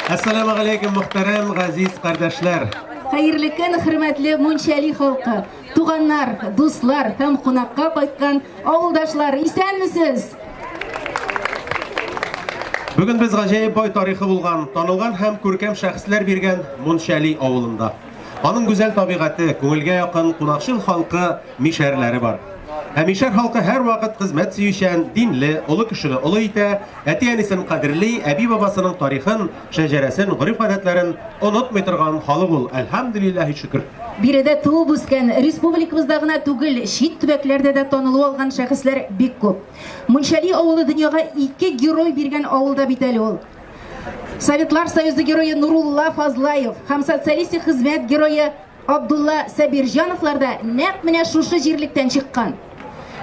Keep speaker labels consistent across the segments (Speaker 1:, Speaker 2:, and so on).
Speaker 1: Әссәламу алейкум, мөхтәрәм газиз кардәшләр. Хәерле көн, хөрмәтле Мунчали халкы, туганнар, дуслар һәм кунакка кайткан авылдашлар, исәнмесез? Бүген без гаҗәеп бай тарихы булган, танылган һәм күркәм шәхесләр биргән Мунчали авылында. Аның гүзәл табигате, күңелгә якын кунакчыл халкы Мишәрләре бар. Ә мишәр халкы һәрвакыт хезмәт сөючән, динле, олы кешене олы итә, әти-әнисен кадерли, әби-бабасының тарихын, шәҗәрәсен, гореф-гадәтләрен онытмый торган халык ул, әлхәмдүлилләһи шөкер. Биредә туып-үскән, республикабызда гына түгел, чит төбәкләрдә дә танылу алган шәхесләр бик күп. Мунчали авылы дөньяга ике герой биргән авыл да бит әле ул. Советлар Союзы герое Нурулла Фазлаев һәм социалистик хезмәт герое Абдулла Сабирҗановлар да нәкъ менә шушы җирлектән чыккан.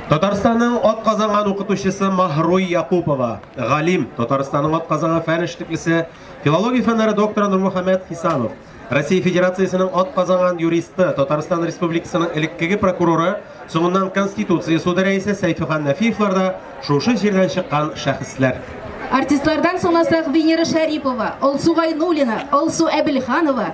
Speaker 1: Татарстанның атказанган укытучысы Маһруй Якупова, галим, Татарстанның атказанган фән эшлеклесе, филология фәннәре докторы Нурмөхәммәт Хисамов, Россия Федерациясенең атказанган юристы, Татарстан Республикасының элеккеге прокуроры, соңыннан Конституция суды рәисе Сәйфихан Нәфиевлар да шушы җирдән чыккан шәхесләр. Артистлардан санасак, Венера Шәрипова, Алсу Гайнуллина, Алсу Әбелханова,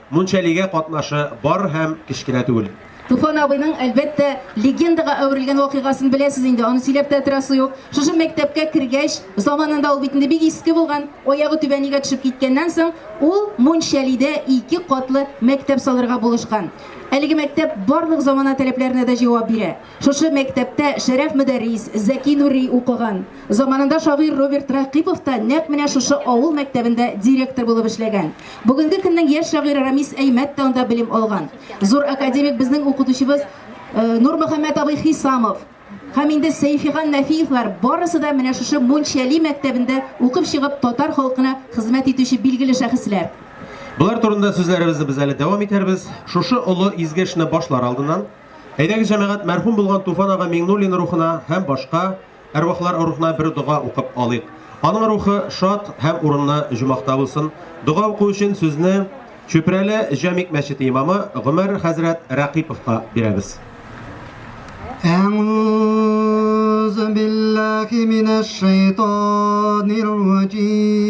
Speaker 1: Мунчалигә катнашы бар һәм кечкенә түгел. Туфан абыйның, әлбәттә, легендага әверелгән вакыйгасын беләсез инде, аны сөйләп тә торасы юк. Шушы мәктәпкә кергәч, заманында ул бит инде бик иске булган, аягы түбәнигә төшеп киткәннән соң, ул Мунчалидә ике катлы мәктәп салырга булышкан. Әлеге мәктәп барлык замана таләпләренә дә җавап бирә. Шушы мәктәптә Шәрәф Мөдәррис, Зәки Нури укыган. Заманында шагыйрь Роберт Рәкыйпов та нәкъ менә шушы авыл мәктәбендә директор булып эшләгән. Бүгенге көннең яшь шагыйре Рамис Әймәт тә анда белем алган. Зур академик безнең укытучыбыз Нурмөхәммәт абый Хисамов һәм инде Сәйфиган Нәфиевлар барысы да менә шушы Мунчәли мәктәбендә укып чыгып татар халкына хезмәт итүче билгеле шәхесләр. Болар турында сүзләребезне без әле дәвам итәрбез. Шушы олы изге эшне башлар алдыннан, Әйдәгез, җәмәгать, мәрхүм булган Туфан ага Миңнуллин рухына һәм башка әрвахлар рухына бер дога укып алыйк. Аның рухы шат һәм урынлы җумахта булсын. Дога уку өчен сүзне Чүпрәле Җәмик мәчете имамы Гомәр хәзрәт Рәкыйповка бирәбез. Әгъүзү биллаһи минәш шәйтанир раҗим.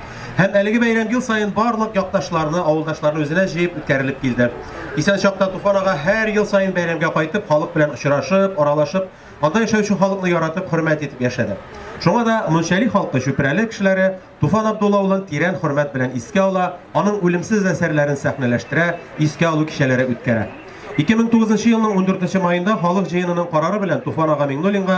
Speaker 1: Һәм әлеге бәйрәм ел саен барлык якташларны, авылдашларны үзенә җыеп үткәрелеп килде. Исән чакта Туфан ага һәр ел саен бәйрәмгә кайтып, халык белән очрашып, аралашып, анда яшәүче халыкны яратып, хөрмәт итеп яшәде. Шуңа да Мунчали халкы Чүпрәле кешеләре Туфан Абдулла улын тирән хөрмәт белән искә ала, аның үлемсез әсәрләрен сәхнәләштерә, искә алу кичәләре үткәрә. 2009 елның 14 маенда халык җыенының карары белән Туфан ага Миңнуллинга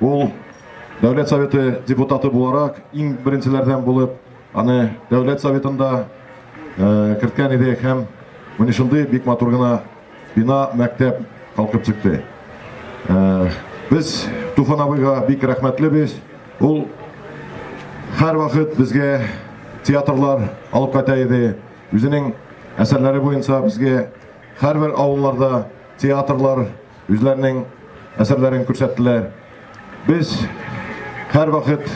Speaker 1: Ул Дәүләт Советы депутаты буларак иң беренчеләрдән булып, аны Дәүләт Советында э, керткән иде һәм менә шундый бик матур гына бина, мәктәп калкып чыкты. Э, без Туфан абыйга бик рәхмәтле без. Ул һәр вакыт безгә театрлар алып кайта иде. Үзенең әсәрләре буенча безгә һәрбер авылларда театрлар Үзләренең әсәрләрен күрсәттеләр. Без һәрвакыт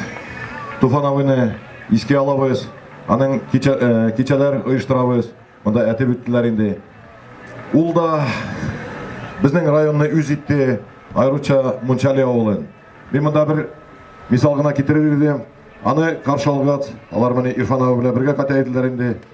Speaker 1: Туфан абыйны искә алабыз, аның кичә, э, кичәләр оештырабыз. Монда әтеп үттеләр инде. Ул да безнең районны үз итте, аеруча Мунчали авылын. Мин монда бер мисал гына китерер идем. Аны каршы алгач, алар менә Ирфан абый белән бергә кайтайдылар инде.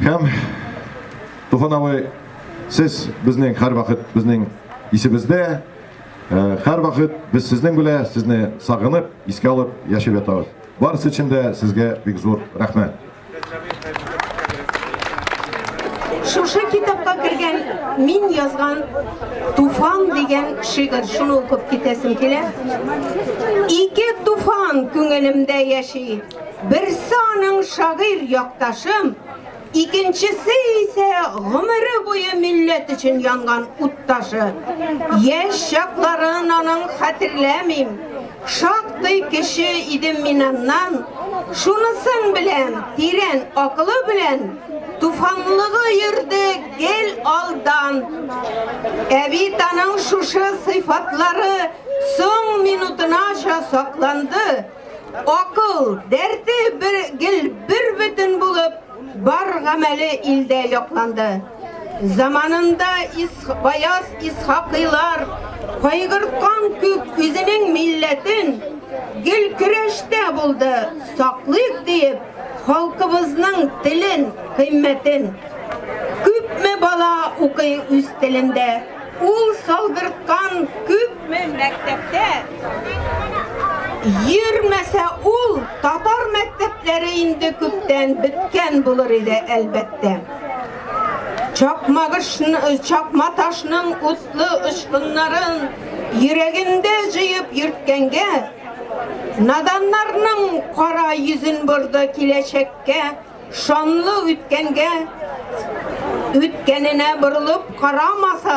Speaker 1: Һәм Туфан абый, сез безнең һәрвакыт безнең исебездә, э, һәрвакыт без сезнең белән, сезне сагынып, искә алып яшәп ятабыз. Барысы өчен дә сезгә бик зур рәхмәт. Шушы китапка кергән мин язган Туфан дигән шигырь шуны укып китәсем килә. Ике туфан күңелемдә яши. Берсе аның шагыйрь якташым, икенчесе исә гомере буе милләт өчен янган утташы. Яшь чакларын аның хәтерләмим. Шактый кеше идем мин аннан. Шунысын беләм, тирән акылы белән туфанлыгы йөрде гел алдан. Ә бит аның шушы сыйфатлары соң минутынача сакланды. Акыл, дәрте бер гел бер бөтен булып, бар гамәле илдә якланды. Заманында ис, баяз исхакыйлар кайгырткан күк үзенең милләтен гел көрәштә булды, саклыйк диеп, халкыбызның телен, кыйммәтен. Күпме бала укый үз телендә. Ул салдырткан күпме мәктәптә йөрмәсә ул татар мәктәпләре инде күптән беткән булыр иде әлбәттә. Чакмагышны, чакма ташның утлы очкыннарын йөрәгендә җыеп йөрткәнгә, наданнарның кара йөзен борды киләчәккә Шанлы үткәнгә, үткәненә борылып карамаса,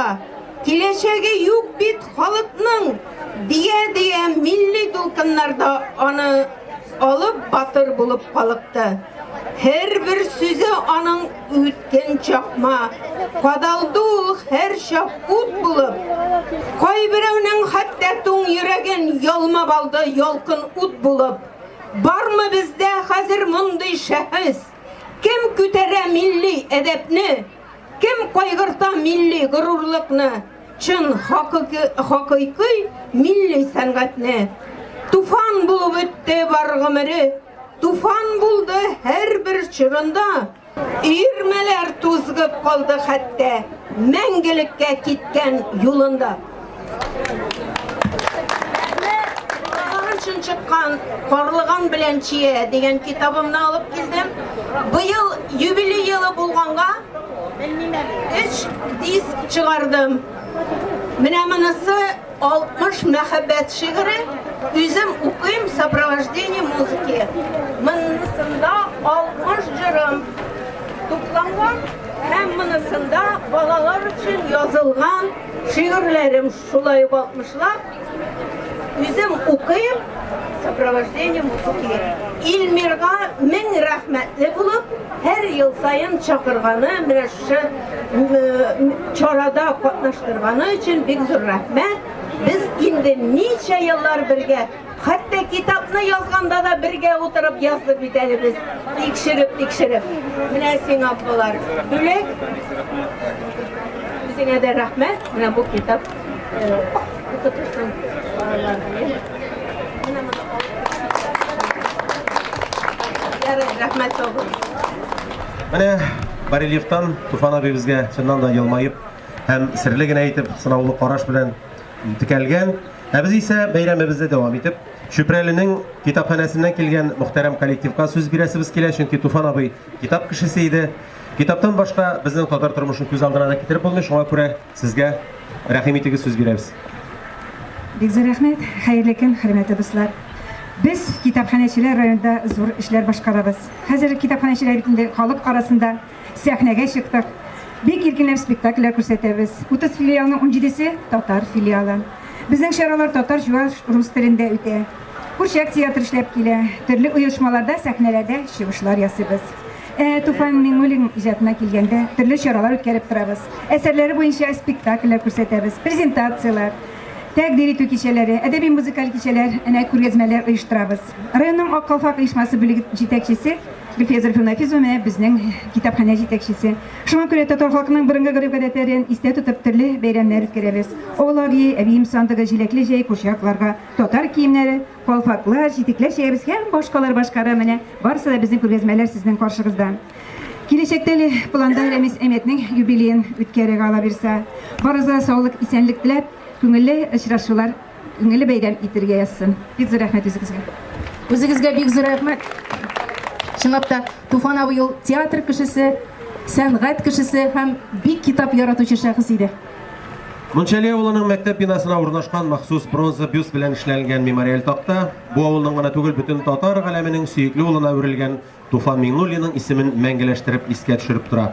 Speaker 1: киләчәге юк бит халыкның, дия-дия милли дулкыннарда аны алып батыр булып калыкты. Һәрбер сүзе аның үткен чакма, кадалды ул һәрчак ут булып. Кайберәүнең хәтта туң йөрәген ялмап алды ялкын ут булып. Бармы бездә хәзер мондый шәхес? Кем күтәрә милли әдәпне? Кем кайгырта милли горурлыкны? Чын хакыйкы милли сәнгатьне? Туфан булып үтте бар гомере, туфан булды һәрбер чорында. Өермәләр тузгып калды хәтта, мәңгелеккә киткән юлында. Карлыган чыккан, Карлыган белән чия дигән китабымны алып килдем. Быел юбилей елы булганга, өч диск чыгардым. Менә монысы 60 мәхәббәт шигыре үзем укыйм сопровождение музыки. Монысында 60 җырым тупланган һәм монысында балалар өчен язылган шигырьләрем шулай ук 60лап үзем укыйм сопровождение музыки. Илмирга мең рәхмәтле булып һәр ел саен чакырганы, менә шушы чарада катнаштырганы өчен бик зур рәхмәт. Без инде ничә еллар бергә Хәтта китапны язганда да бергә утырып яздык бит әле без. Тикшереп, тикшереп. Менә сиңа болар. Бүләк. Үзеңә дә рәхмәт. Менә бу китап. Менә барельефтан Туфан абыебезгә чыннан да елмаеп һәм серле генә итеп сынаулы караш белән текәлгән. Ә без исә бәйрәмебезне дәвам итеп, Чүпрәленең китапханәсеннән килгән мөхтәрәм коллективка сүз бирәсебез килә, чөнки Туфан абый китап кешесе иде. Китаптан башка безнең татар тормышын күз алдына да китереп булмый, шуңа күрә Сезгә рәхим итегез сүз бирәбез. Бик зур рәхмәт, хәерле көн, хөрмәтле дуслар. Без китапханәчеләр районда зур эшләр башкарабыз. Хәзер китапханәчеләр бит инде халык арасында сәхнәгә чыктык. Бик иркенләп спектакльләр күрсәтәбез. 30 филиалның 17-се татар филиалы. Безнең чаралар татар, чуваш, рус телендә үтә. Курчак театры эшләп килә. Төрле оешмаларда сәхнәләрдә чыгышлар ясыйбыз. Ә Туфан Миңнуллин иҗатына килгәндә, төрле чаралар үткәреп торабыз. Әсәрләре буенча спектакльләр күрсәтәбез, презентацияләр, тәкъдир итү кичәләре, әдәби-музыкаль кичәләр, әнә күргәзмәләр оештырабыз. Районның Ак калфак оешмасы бүлеге җитәкчесе Гөлфия Зарифовна Нафизова менә безнең китапханә җитәкчесе. Шуңа күрә татар халкының борынгы гореф-гадәтләрен истә тотып төрле бәйрәмнәр үткәрәбез. Олаги, әбием сандыгы, җиләкле җәй, курчакларга татар киемнәре, Калфаклар, читекләр чәябез һәм башкалар башкара менә барысы да безнең күргәзмәләр сезнең каршыгызда. Киләчәктә әле планда Рәмис Әмәтнең юбилеен үткәрергә ала бирсә, барыгызга саулык, исәнлек теләп, күңелле очрашулар, күңелле бәйрәм итергә язсын. Бик зур рәхмәт үзегезгә. Үзегезгә бик зур рәхмәт. Чынлап та Туфан абый ул театр кешесе, сәнгать кешесе һәм бик китап яратучы шәхес иде. Мунчали авылының мәктәп бинасына урнашкан махсус бронза бюст белән эшләнгән мемориаль такта бу авылның гына түгел, бөтен татар галәменең сөекле улына әверелгән Туфан Миңнуллинның исемен мәңгеләштереп искә төшереп тора.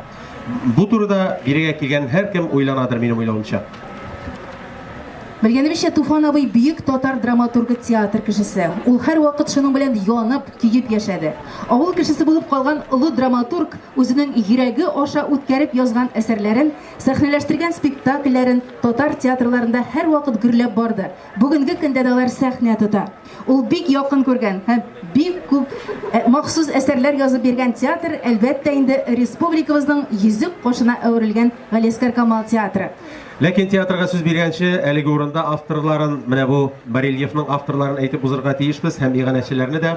Speaker 1: Бу турыда бирегә килгән һәркем уйланадыр, минем уйлавымча. Белгәнебезчә, Туфан абый бөек татар драматургы, театр кешесе. Ул һәрвакыт шуның белән янып, көеп яшәде. Авыл кешесе булып калган олы драматург үзенең йөрәге аша үткәреп язган әсәрләрен Сәхнәләштергән спектакльләрен татар театрларында һәрвакыт гөрләп барды. Бүгенге көндә дә алар сәхнә тота. Ул бик якын күргән һәм бик күп махсус әсәрләр язып биргән театр, әлбәттә инде, республикабызның йөзек кашына әверелгән Галиәскар Камал театры. Ләкин театрга сүз биргәнче, әлеге урында авторларын, менә бу барельефның авторларын әйтеп узырга тиешбез һәм иганәчеләрне дә.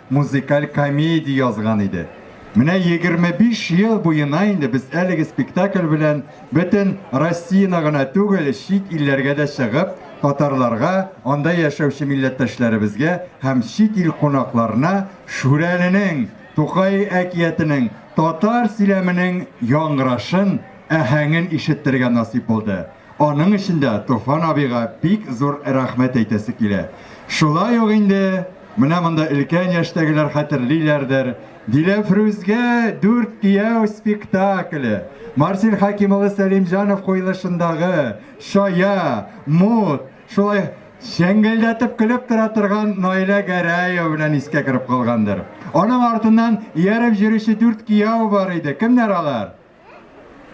Speaker 1: музыкаль комедия язган иде. Менә егерме биш ел буена инде без әлеге спектакль белән бөтен Россияне гына түгел, чит илләргә дә чыгып, татарларга, анда яшәүче милләттәшләребезгә һәм чит ил кунакларына Шүрәленең, Тукай әкиятенең татар сөйләменең яңгырашын, әһәңен ишеттерергә насыйп булды. Аның өчен дә Туфан абыйга бик зур рәхмәт әйтәсе килә. Шулай ук инде менә монда өлкән яшьтәгеләр хәтерлиләрдер, Диләфрүзгә дүрт кияү спектакле, Марсель Хәким улы Сәлимҗанов куелышындагы Чая, Мут, шулай чәңгелдәтеп көлеп тора торган Наилә Гәрәева белән искә кереп калгандыр. Аның артыннан ияреп җөрүче дүрт кияү бар иде, кемнәр алар?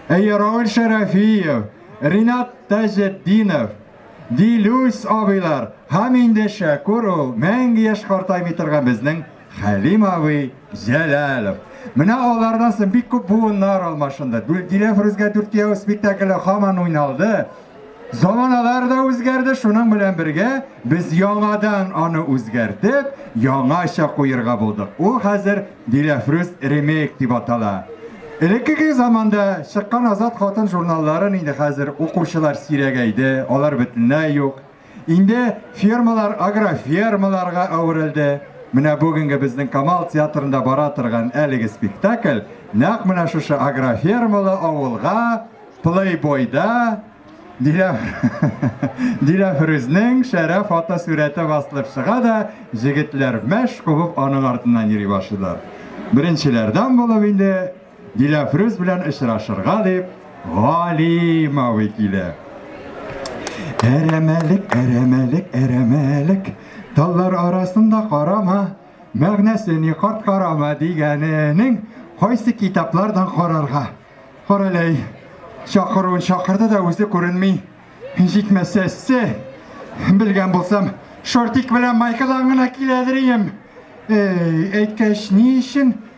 Speaker 1: Әйе, Равил Шәрәфиев, Ринат Таҗетдинов, Дилүс абыйлар һәм инде Шәкүр ул мәңге яшь картаймый торган безнең Хәлим абый Җәләлов. Менә алардан соң бик күп буыннар алмашынды. Диләфрүзгә дүрт кияү спектакле һаман уйналды. Заманалар да үзгәрде, шуның белән бергә без яңадан аны үзгәртеп, яңача куерга булдык. Ул хәзер Диләфрүз ремейк дип атала. Элеккеге заманда чыккан Азат хатын журналларын инде хәзер укучылар сирәгәйде, алар бөтенләй юк. Инде фермалар агрофермаларга әверелде. Менә бүгенге безнең Камал театрында бара торган әлеге спектакль нәкъ менә шушы агрофермалы авылга плейбойда Диләфрүзнең шәрә фотосурәте басылып чыга да, җегетләр мәш кубып аның артыннан йөри башлыйлар. Беренчеләрдән булып инде Диләфрүз белән очрашырга дип Галим абый килә. Әрәмәлек, әрәмәлек, әрәмәлек, таллар арасында карама, мәгънәсе ни карт карама дигәненең кайсы китаплардан карарга? Караләй, чакыруын чакырды да үзе күренми. Җитмәсә ссе, белгән булсам, шортик белән майкадан гына киләдер ием. Эй, әйткәч, ни өчен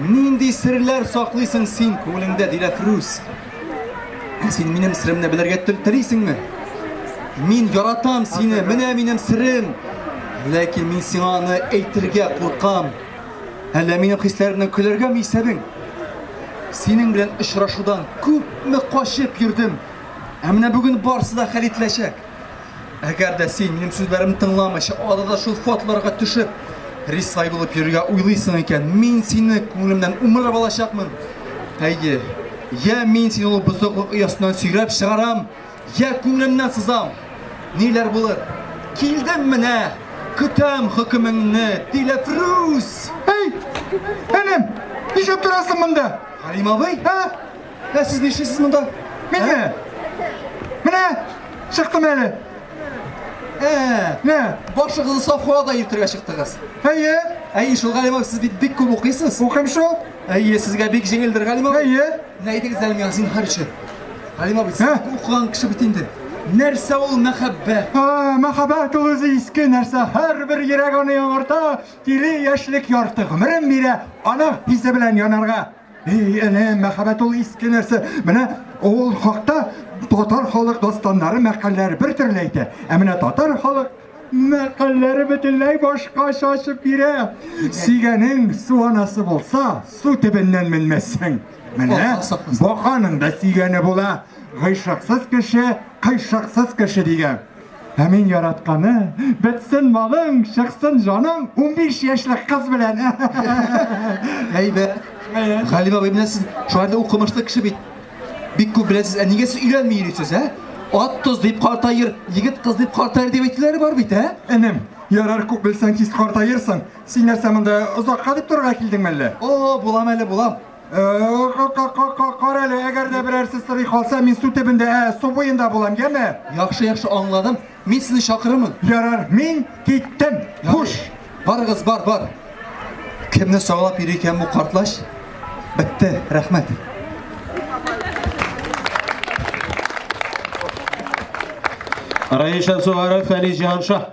Speaker 1: Нинди серләр саклыйсың син күңелеңдә, Диләфрүз? Ә син минем сиремне белергә телисеңме? Мин яратам сине, менә минем сирем. Ләкин мин сиңа аны әйтергә куркам. Әллә минем хисләремне көләргәме исәбең? Синең белән очрашудан күпме качып йөрдем. Ә менә бүген барсы да хәл ителәчәк. Әгәр дә син минем сүзләремне тыңламыйча, адада шул фотларга төшеп, рисвай булып йөрергә уйлыйсың икән, мин сине күңелемнән умырып алачакмын. Әйе, я мин сине ул бозыклык оясыннан сөйрәп чыгарам, я күңелемнән сызам. Ниләр булыр? Килдем менә, көтәм хөкемеңне, Диләфрүз! Әй, энем, нишләп торасың монда? Галим абый? Ә? Ә сез нишлисез монда? Мине? Менә чыктым әле. Ә, менә башыгызны Сафуа да йөртергә чыктыгыз. Әйе. Әйе, шул Галимов, сез бит бик күп укыйсыз. Укыйм шул. Әйе, сезгә бик җиңелдер Галимов. Әйе. Менә әйтегез әле миңа зинһар өчен. Галимов, сез укыган кеше бит инде. Нәрсә ул мәхәббәт? А, мәхәббәт ул үзе иске нәрсә. Һәрбер йөрәк аны яңарта, тиле яшьлек ярты гомерен бирә, аның хисе белән янарга. И, әнә, мәхәббәт ул иске нәрсә. Менә ул хакта татар халык дастаннары, мәкальләре бер төрле әйтә. Ә менә татар халык мәкальләре бөтенләй башка шашып бирә. Сигәнең су анасы булса, су төбеннән менмәссең. Менә баканың да сигәне була. Гыйшыксыз кеше, кыйшыксыз кеше дигән. Ә мин яратканы, бетсен малың, чыксын җаның, 15 яшьлек кыз белән. Әйбә. Галим абый белән сез шулай да укымышлы кеше бит. Бик күп беләсез. Ә нигә сез өйләнми йөрисез, ә? Ат тоз дип картаер, егет кыз дип картаер дип әйтүләре бар бит, ә? Энем, ярар күп белсәң тиз картаерсың. Син нәрсә монда озакка дип торырга килдеңме әллә? О, булам әле, булам. Кара әле, әгәр дә берәрсе сорый калса, мин су төбендә, ә, су буенда булам, яме? Яхшы, яхшы аңладым. Мин сезне чакырырмын. Ярар, мин киттем. Хуш. Барыгыз, бар, бар. Кемне саулап йөри икән бу картлач? Бетте, рәхмәт. Раиша Сугаров, Фәлис Җанша.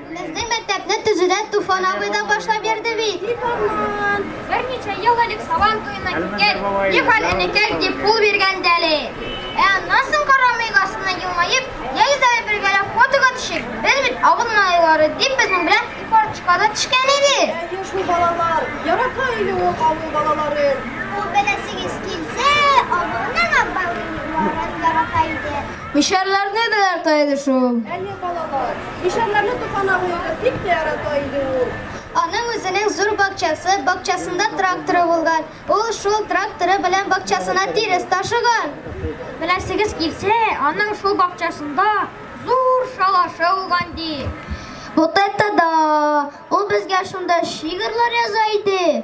Speaker 1: Безнең мәктәпне төзүдә Туфан абый да башлап йөрде бит. Туфан, берничә ел элек Сабан туена киткән, ни хәл энекәй дип кул биргән дә әле. Ә аннан соң карамый астына елмаеп, я йөзләре бергәләп фотога төшеп, без бит авыл малайлары дип безнең белән карточкага төшкән иде. Әйе шул балалар, ярата иде ул авыл балаларын. Ул беләсегез килсә, авылның аббабайларын ярата иде. Мишәрләрне дә ярата иде шул. Әйе, балалар, мишәрләрне Туфан абыегыз бик тә ярата иде ул. Аның үзенең зур бакчасы, бакчасында тракторы булган. Ул шул тракторы белән бакчасына тирес ташыган. Беләсегез килсә, аның шул бакчасында зур шалашы булган ди. Вот это да! Ул безгә шунда шигырьләр яза иде.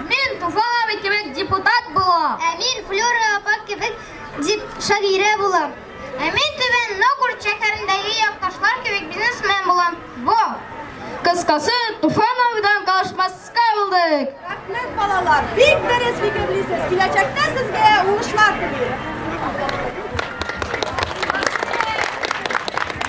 Speaker 1: Мин Туфан абый кебек депутат булам. Ә мин Флюра апа кебек дип шагыйрә булам. Ә мин Түбән Новгород шәһәрендәге якташлар кебек бизнесмен булам. Бу. Кыскасы, Туфан абыйдан калышмаска булдык. Рәхмәт, балалар. Бик дөрес фикерлисез. Киләчәктә сезгә уңышлар телим.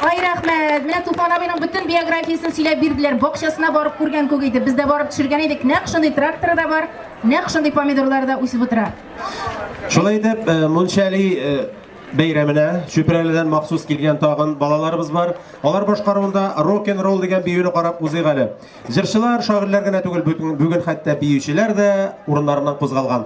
Speaker 1: Ай рәхмәт. Менә Туфан абыйның бөтен биографиясен сөйләп бирделәр. Бакчасына барып күргән күк иде. Без дә барып төшергән идек. Нәкъ шундый тракторы да бар, нәкъ шундый помидорлар да үсеп утыра. Шулай итеп, э, Мунчали э, бәйрәменә Чүпрәледән махсус килгән тагын балаларыбыз бар. Алар башкаруында рок н ролл дигән биюне карап узыйк әле. Җырчылар, шагыйрьләр генә түгел, бүген хәтта биючеләр дә урыннарыннан кузгалган.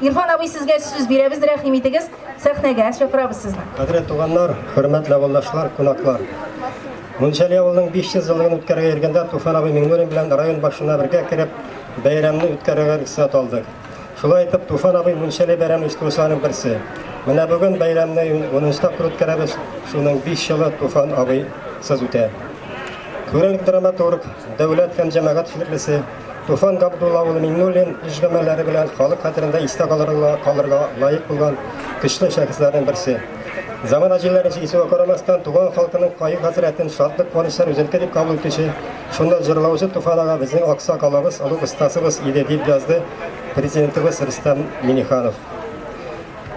Speaker 1: Ирфан абый сезгә сүз бирәбез, рәхим итегез, сәхнәгә чакырабыз сезне. Кадерле туганнар, хөрмәтле авылдашлар, кунаклар. Мунчали авылының 500 еллыгын үткәрергә йөргәндә Туфан абый Миңнуллин белән район башына бергә кереп, бәйрәмне үткәрергә рөхсәт алдык. Шулай итеп, Туфан абый Мунчали бәйрәмен оештыручыларның берсе. Менә бүген бәйрәмне 10 тапкыр үткәрәбез, шуның 5 елы Туфан абый сыз үтә. Күренекле драматург, дәүләт һәм җәмәгать эшлеклесе, Туфан Габдулла улы Миңнуллин эш гамәлләре белән халык хәтерендә истә калырга, калырга лаек булган көчле шәхесләрнең берсе. Замана җилләрен җисүгә карамастан, туган халкының кайгы-хәсрәтен шатлык-куанычлар үзенеке дип кабул итүче, шунда җырлаучы Туфан ага безнең аксак алабыз, олуг остасыбыз иде, дип язды Президентыбыз Рөстәм Миңнеханов.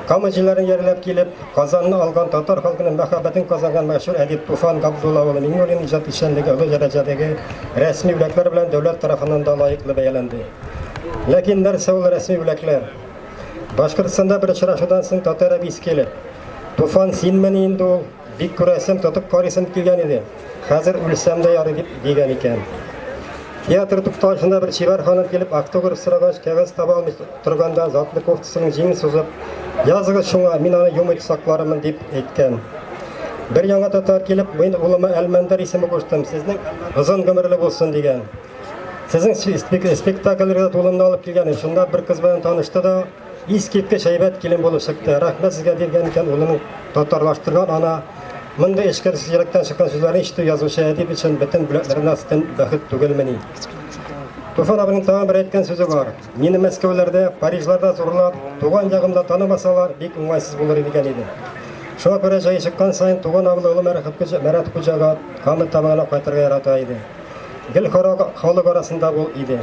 Speaker 1: Кама җилләрен йәрләп килеп, Казанны алган татар халкының мәхәббәтен казанган мәшһүр әдип Туфан Габдулла улы Миңнуллин иҗат эшчәнлеге олы дәрәҗәдәге рәсми бүләкләр белән дәүләт тарафыннан да лаеклы бәяләнде. Ләкин нәрсә ул рәсми бүләкләр? Башкортстанда бер очрашудан соң татар әбисе килеп, Туфан, синмени инде ул? Бик күрәсем, тотып карыйсым килгән иде. Хәзер үлсәм дә ярый дип дигән икән. Театр тукталышында бер чибәр ханым килеп автограф сорагач, кәгазь таба алмый торганда, затлы кофтасының җиңен сузып, языгыз шуңа, мин аны юмый сакларымын дип әйткән. Бер яңа татар килеп, мин улыма Әлмәндәр исеме куштым, сезнең озын гомерле булсын дигән. Сезнең спектакльләргә тулымны алып килгән, шунда бер кыз белән танышты да, Искиткеч әйбәт килен булып чыкты. Рәхмәт сезгә биргән икән улының татарлаштырган ана. Мондый эчкерсез йөрәктән чыккан сүзләрне ишетү язучы әдип өчен бөтен бүләкләрдән астын бәхет түгелмени. Туфан абының тагын бер әйткән сүзе бар. Мине Мәскәүләрдә, Парижларда зурлап, туган ягымда танымасалар, бик уңайсыз булыр иде икән иде. Шуңа күрә җае чыккан саен туган авылы Олы Мәрәт хуҗага, Камыл Тамагына кайтырга ярата иде. Гел халык арасында ул иде.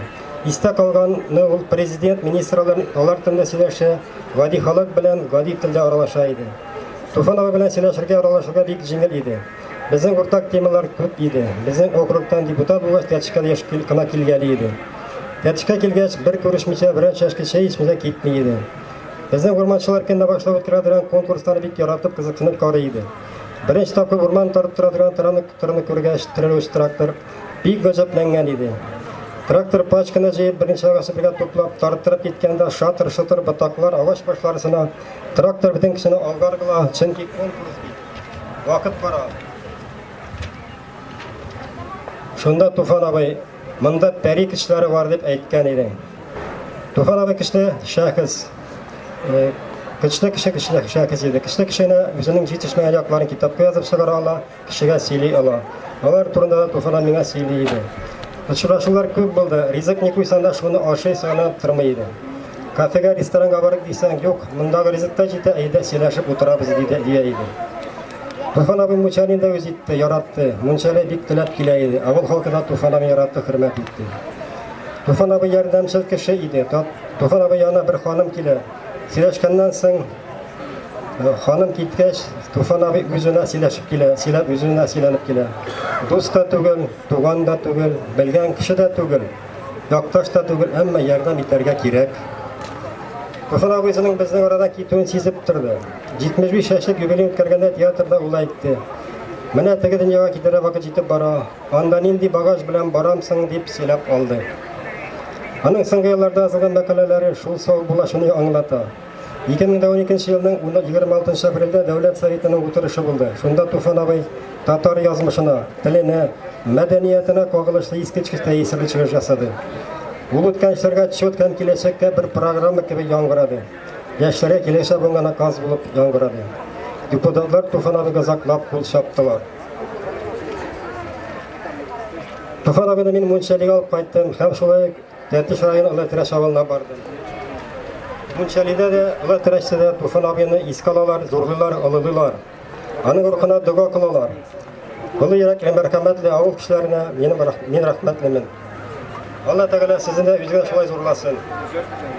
Speaker 1: Истә калганны ул президент, министрлар, алар телендә сөйләшә, гади халык белән гади телдә аралаша иде. Туфан абый белән сөйләшергә, аралашырга бик җиңел иде. Безнең уртак темалар күп иде. Безнең округтан депутат булгач, Тәтешкә дә еш кына килгәли иде. Тәтешкә килгәч, бер күрешмичә, берәр чәшке чәй эчмичә китми иде. Безнең урманчылар көнне башлап үткәрә торган конкурсларны бик яратып, кызыксынып карый иде. Беренче тапкыр урман тартып тора торган тыраны күргәч, терелүче трактор, Бик гаҗәпләнгән иде. Трактор пачканы җыеп, беренче агачны бергә туплап, тарттырып киткәндә, шатыр-шотыр ботаклар, агач башлары сына, трактор бөтен кешене алга ыргыла, чөнки конкурс бит. Вакыт бара. Шунда Туфан абый, монда пәри кешеләре бар дип әйткән иде. Туфан абый кешеле шәхес. Кешеле кеше кешеле шәхес иде. Кешеле кешене үзенең җитешмәгән якларын китапка язып чыгара ала. Кешегә сөйли ала. Алар турында да Туфана миңа сөйли иде. Очрашулар күп булды. Ризык ни куйсаң да шуны ашый сыйланып тормый иде. Кафега, ресторанга барып дисәң, юк, мондагы ризык та җитә, әйдә сөйләшеп утырабыз диде дия иде. Туфан абый Мунчалин да үз итте, яратты. Мунчале бик теләп килә иде. Авыл халкы да Туфан абый яратты, хөрмәт итте. Туфан абый ярдәмчел кеше иде. Туфан абый янына бер ханым килә. Сөйләшкәннән соң Ханым киткәч, Туфан абый үзенә сөйләшеп килә, сөйләп үзенә сөйләнеп килә. Дус та түгел, туган да түгел, белгән кеше дә түгел, якташ та түгел, әмма ярдәм итәргә кирәк. Туфан абыйсының безнең арада китүен сизеп торды. 75 яшьлек юбилей үткәргәндә театрда ул әйтте. Менә теге дөньяга китәргә вакыт җитеп бара. Анда нинди багаж белән барамсың дип сөйләп алды. Аның соңгы елларда язылган мәкаләләре шул сау булачуны аңлата. 2012 елның 26 апрельдә Дәүләт Советының утырышы булды. Шунда Туфан абый татар язмышына, теленә, мәдәниятенә кагылышлы искиткеч тәэсирле чыгыш ясады. Ул үткән эшләргә отчет һәм киләчәккә бер программа кебек яңгырады. Яшьләргә киләчәк булган наказ булып яңгырады. Депутатлар Туфан абыйга заклап кул чаптылар. Туфан абыйны мин мунчалига алып кайттым һәм шулай Тәтеш районы Олы Терәш авылына бардым. Мунчалида да, Олы Терәштә дә Туфан абыйны искә алалар, зурлыйлар, олылыйлар. Аның рухына дога кылалар. Олы йөрәкле, мәрхәмәтле авыл кешеләренә минем мин рәхмәтлемен. Алла Тәгалә сезне дә үзенә шулай зурласын.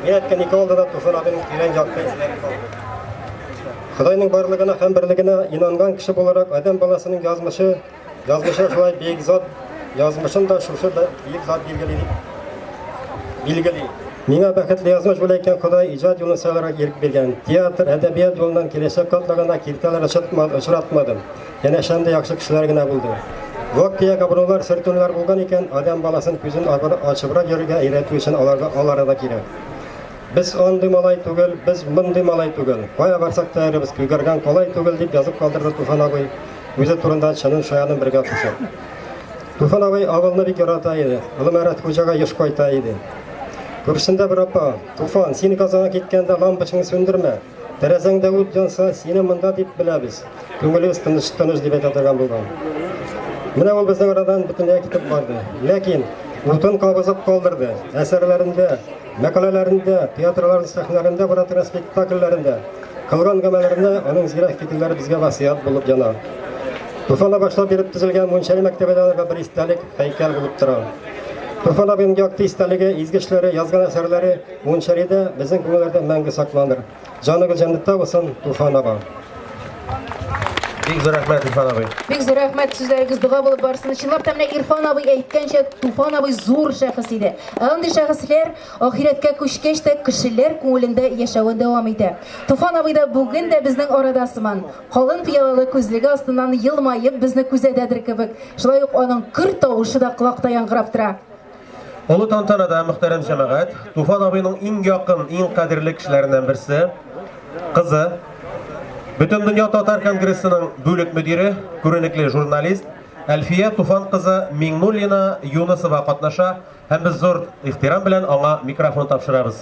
Speaker 1: Мин әйткән ике алда да Туфан абыйның тирән якты эзләре калды. Худайның барлыгына һәм берлегенә инанган кеше буларак, адәм баласының язмышы Язмышы шулай бөек зат, язмышын да шушы бөек зат билгели. Билгели. Миңа бәхетле язмыш бүләк икән Ходай иҗат юлын сайларга ирек биргән. Театр, әдәбият юлынан киләчәк катлагына киртәләр очратмады, очратмадым. Янә шәндә яхшы кешеләр генә булды. Вак-төяк абруйлар, сөртүләр булган икән, адам баласын күзен ачыбрак йөрергә өйрәтү өчен аларга алары да кирәк. Без андый малай түгел, без мондый малай түгел. Кая барсак та эребез, күгәргән колай түгел, дип язып калдырды Туфан абый. Үзе турында чынын шаянын бергә куша. Туфан абый авылны бик ярата иде. Улы Мәрәт хуҗага еш кайта иде. Күршесендә бер апа, Туфан, син Казанга киткәндә лампочканы сүндермә. Тәрәзәңдә ут янса, сине монда дип беләбез. Күңелебез тыныч тыныч дип әйтә торган булган. Менә ул безнең арадан бөтенләй китеп барды. Ләкин утын кабызып калдырды. Әсәрләрендә мәкаләләрендә, театрларын сәхнәләрендә баратырган спектакльләрендә кылган гамәлләрендә аның зирәк фикерләре безгә васыят булып яна. Туфана башлап биреп төзелгән мунчали мәктәбендә аларга бер истәлек һәйкәл булып тора. Туфан абыйның якты истәлеге, изге эшләре, язган әсәрләре мунчалида безнең күңелләрдә мәңге сакланыр. Җаныгыз җәннәттә булсын, Туфан аба. Бик зур рәхмәт, Ирфан абый. Бик зур рәхмәт, сүзләрегез дога булып барсын. Чынлап та менә Ирфан абый әйткәнчә, Туфан абый зур шәхес иде. Ә андый шәхесләр ахирәткә күчкәч тә кешеләр күңелендә яшәвен дәвам итә. Туфан абый да бүген дә безнең арада сыман, калын пыялалы күзлеге астыннан елмаеп безне күзәтәдер кебек. Шулай ук аның көр тавышы да колакта яңгырап тора. Олы тантанада мөхтәрәм җәмәгать, Туфан абыйның иң якын, иң кадерле кешеләреннән берсе, кызы, Бөтендөнья татар конгрессының бүлек мөдире, күренекле журналист Әлфия Туфан кызы Миңнуллина Юнысова катнаша һәм без зур ихтирам белән аңа микрофон тапшырабыз.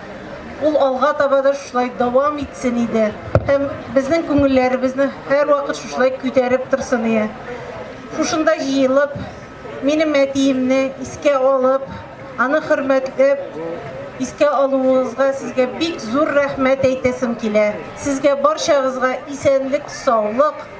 Speaker 1: Ул алга таба да шушылай дәвам итсен иде һәм безнең күңелләребезне һәрвакыт шушылай күтәреп торсын ие. Шушында җыелып, минем әтиемне искә алып, аны хөрмәтләп, искә алуыгызга сезгә бик зур рәхмәт әйтәсем килә. Сезгә барчагызга исәнлек, саулык,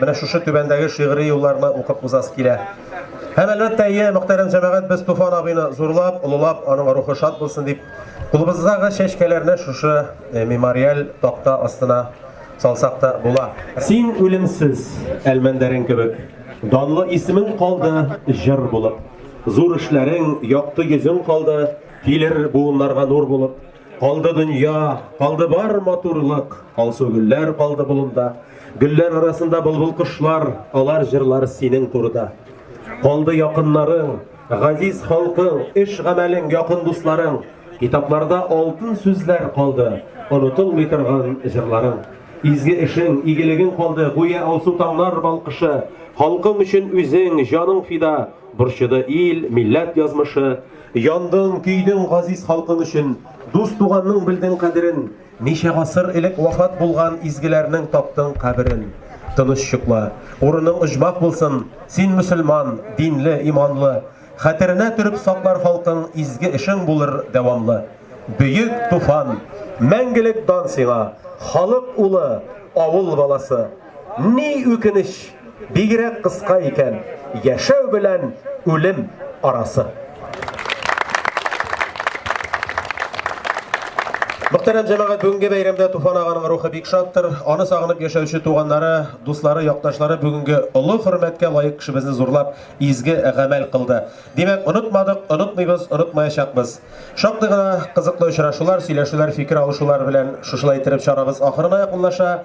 Speaker 1: Менә шушы түбәндәге шигъри юлларны укып узасы килә. Һәм әлбәттә, ие, мөхтәрәм җәмәгать, без Туфан абыйны зурлап, олылап, аның рухы шат булсын дип, кулыбыздагы чәчкәләрне шушы мемориаль такта астына салсак та була. Син үлемсез, Әлмәндәрен кебек, данлы исемең калды җыр булып. Зур эшләрең, якты йөзең калды, килер буыннарга нур булып. Калды дөнья, калды бар матурлык, алсу гөлләр калды болында. Гөлләр арасында былбыл кошлар, алар җырлар синең турыда. Калды якыннарың, газиз халкың, эш гамәлең, якын дусларың. Китапларда алтын сүзләр калды, онытылмый торган җырларың. Изге эшең, игелегең калды, гүя алсу таңнар балкышы. Халкың өчен үзең, җаның фида, борчыды ил, милләт язмышы. Яндың, көйдең газиз халкың өчен, Дус-туганның белдең кадерен, Ничә гасыр элек вафат булган Изгеләрнең таптың каберен. Тыныч йокла, урының оҗмах булсын, Син мөселман, динле, иманлы, Хәтеренә төреп саклар халкың Изге эшең булыр дәвамлы. Бөек Туфан! Мәңгелек дан сиңа, Халык улы, авыл баласы! Ни үкенеч, бигрәк кыска икән яшәү белән үлем арасы. Мөхтәрәм җәмәгать, бүгенге бәйрәмдә Туфан аганың рухы бик шаттыр. Аны сагынып яшәүче туганнары, дуслары, якташлары бүгенге олы хөрмәткә лаек кешебезне зурлап, изге гамәл кылды. Димәк, онытмадык, онытмыйбыз, онытмаячакбыз. Шактый гына кызыклы очрашулар, сөйләшүләр, фикер алышулар белән шушылай иттереп чарабыз ахырына якынлаша.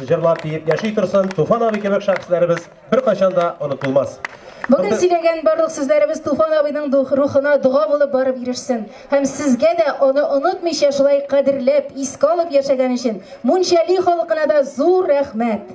Speaker 1: Җырлап, биеп яши торсын Туфан абый кебек шәхесләребез беркайчан да онытылмас. Бүген сөйләгән барлык сүзләребез Туфан абыйның рухына дога булып барып ирешсен. Һәм сезгә дә аны онытмыйча шулай кадерләп, искә алып яшәгән өчен Мунчали халкына да зур рәхмәт!